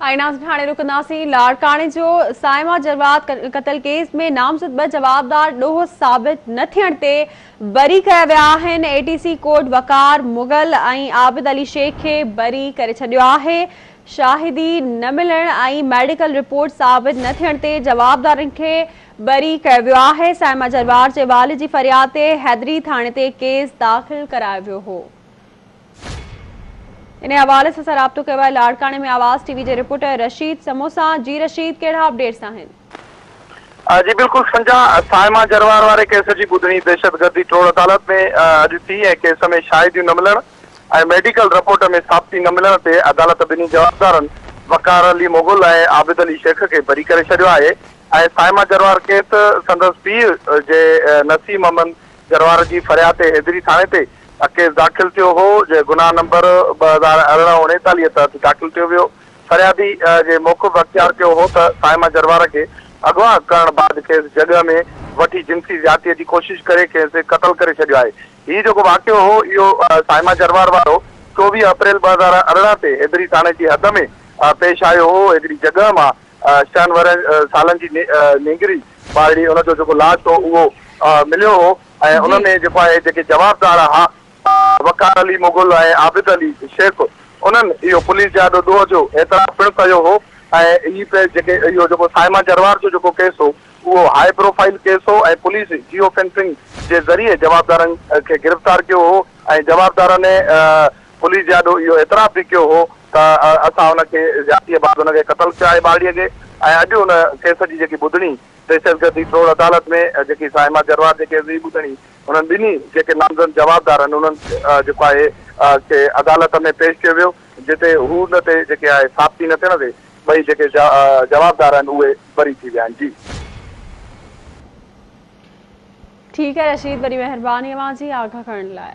ايئناز ٿاڻي رڪنداسين، لاڙڪاڻي جو صائمه جرواد قتل ڪيس ۾ نامزد ٻه جوابدار ڏوهه ثابت نه ٿيڻ تي بري ڪيا ويا آهن، A T C court Waqar Mughal ۽ Abid Ali Shaikh کي بري ڪري ڇڏيو آهي، شاهدي نه ملڻ ۽ ميڊيڪل رپورٽ ثابت نه ٿيڻ تي جوابدارن کي بري ڪيو ويو آهي، صائمه جرواد جي والد جي فرياد تي حيدري ٿاڻي تي ڪيس داخل ڪرايو ويو هو. انهي حوالي سان اسان رابطو ڪيو آهي لاڙڪاڻي ۾ آواز ٽي وي جي رپورٽر رشيد سمو سان جي رشيد ڪهڙا اپڊيٽس آهن. جي بلڪل سنجا صائمه جروار واري ڪيس جي ٻڌڻي دهشتگردي ٽوڙ عدالت ۾ اڄ ٿي ۽ ڪيس ۾ شاهديون نه ملڻ ۽ ميڊيڪل رپورٽ ۾ ثابتي نه ملڻ تي عدالت ٻنهي جوابدارن وقار علي مغل ۽ عابد علي شيخ کي بري ڪري ڇڏيو آهي ۽ صائمه جروار ڪيس سندس پيء جي نسيم امن جروار جي فرياد تي حيدري ٿاڻي تي ا ڪيس داخل ٿيو هو جنهن گناهه نمبر ٻه هزار ارڙهن اڻيتاليهه تحت داخل ٿيو ويو. فريادي جي موقف اختيار ڪيو هو ته صائمه جروار کي اغوا ڪرڻ بعد کيس جڳهه ۾ وٺي جنسي زيادتي جي ڪوشش ڪري کيس قتل ڪري ڇڏيو آهي. هي جيڪو واقعو هو اهو صائمه جروار وارو چوويهه اپريل ٻه هزار ارڙهن تي حيدري ٿاڻي جي حد ۾ پيش آيو هو. حيدري جڳهه مان ڇهن ورهين سالن جي نينگري ٻارڙي ان جو جيڪو لاش هو اهو مليو هو. ۽ ان ۾ جيڪو آهي جيڪي جوابدار ها وقار علي مغل ۽ عابد علي شيخ انهن اهو پوليس جي آڏو ڏوهه جو اعتراف پڻ ڪيو هو ۽ هي پي جيڪي اهو جيڪو صائمه جروار جو جيڪو ڪيس هو اهو هائي پروفائيل ڪيس هو ۽ پوليس جيو فينسنگ جي ذريعي جوابدارن کي گرفتار ڪيو هو ۽ جوابدارن پوليس جي آڏو اهو اعتراف به ڪيو هو ته اسان ان کي زيادتي بعد ان کي قتل ڪيو آهي ٻارڙي کي ۽ اڄ ان ڪيس جي جيڪي ٻڌڻي دهشتگردي ٽوڙ عدالت ۾ جيڪي صائمه جروار جيڪي عظيم ٻڌڻي انهن ٻنهي جيڪي نامزد جوابدار آهن انهن جيڪو آهي کي عدالت ۾ پيش ڪيو ويو جتي هو ان تي جيڪي آهي ثابتي نه ٿيڻ تي ٻئي جيڪي جوابدار آهن اهي بري ٿي ويا آهن جي. ٺيڪ آهي رشيد وڏي مهرباني اوهان جي آگاهه ڪرڻ لاء.